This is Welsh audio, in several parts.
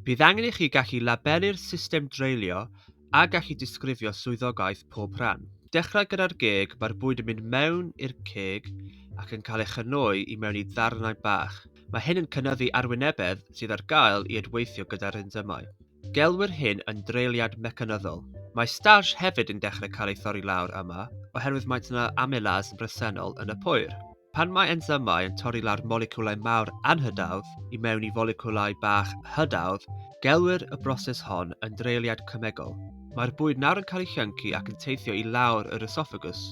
Bydd angen i chi gallu labelu'r system dreulio a gallu disgrifio swyddogaeth pob rhan. Dechrau gyda'r geg, mae'r bwyd yn mynd mewn i'r ceg ac yn cael ei chynoi i mewn i ddarnau bach. Mae hyn yn cynyddu arwynebedd sydd ar gael i edweithio gyda'r ensymau. Gelwir hyn yn dreiliad mecanyddol. Mae starch hefyd yn dechrau cael ei thorri lawr yma oherwydd maent yna amylase bresennol yn y pŵer. Pan mae ensymau yn torri lawr moleciwlau mawr anhydawdd i mewn i foleciwlau bach hydawdd, gelwir y broses hon yn dreiliad cemegol. Mae'r bwyd nawr yn cael ei llyncu ac yn teithio i lawr yr ysofagws.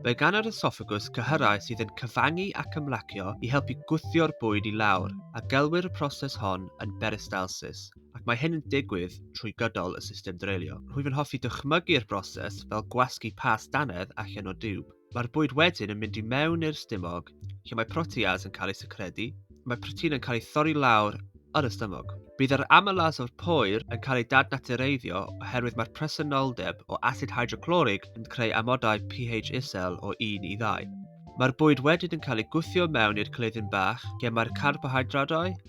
Mae gan yr ysofagws cyhyrau sydd yn cyfangu ac ymlacio i helpu gwthio'r bwyd i lawr, a gelwir y proses hon yn beristalsis, ac mae hyn yn digwydd trwy gydol y system dreulio. Rwyf yn hoffi dychmygu'r broses fel gwasgu past dannedd allan o diwb. Mae'r bwyd wedyn yn mynd i mewn i'r stumog, lle mae proteas yn cael ei secredu, mae protein yn cael ei thorri lawr yn y stumog. Bydd yr amylase o'r poer yn cael ei dadnatureiddio oherwydd mae'r presenoldeb o asid hydroclorig yn creu amodau pH isel o 1 i 2. Mae'r bwyd wedyn yn cael ei gwthio mewn i'r cleiddyn bach lle mae'r carbohydradau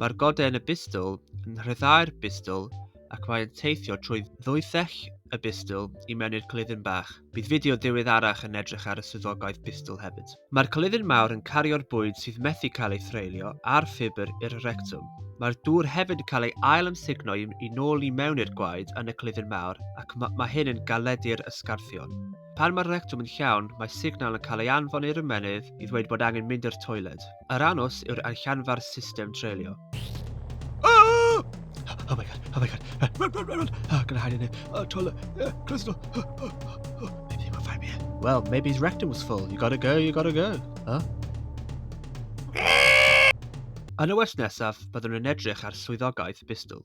Mae'r godau yn y bistwl yn rhyddhau'r bistwl ac mae'n teithio trwy ddwythell y bistwl i mewn i'r cylidyn bach. Bydd fideo ddiweddarach yn edrych ar y swyddogaeth bistwl hefyd. Mae'r cylidyn mawr yn cario'r bwyd sydd methu cael ei threulio a'r ffibr i'r rectwm. Mae'r dŵr hefyd yn cael ei ail ymsugno i, i nôl i mewn i'r gwaed yn y cylidyn mawr ac mae, mae hyn yn galedu'r ysgarthion. Pan mae'r rectwm yn llawn, mae signal yn cael ei anfon i'r ymennydd i ddweud bod angen mynd i'r toiled. Yr anws yw'r allanfa'r system treulio. Oh my god, oh my god. Run, run, run, run, run. Oh, gonna hide in it. Oh, toilet. Yeah, close the door. Oh, oh, oh, oh. Maybe they won't find me. Well, maybe his rectum was full. You gotta go, you gotta go. Huh? Yn y wers nesaf, byddwn yn edrych ar swyddogaeth Bistol.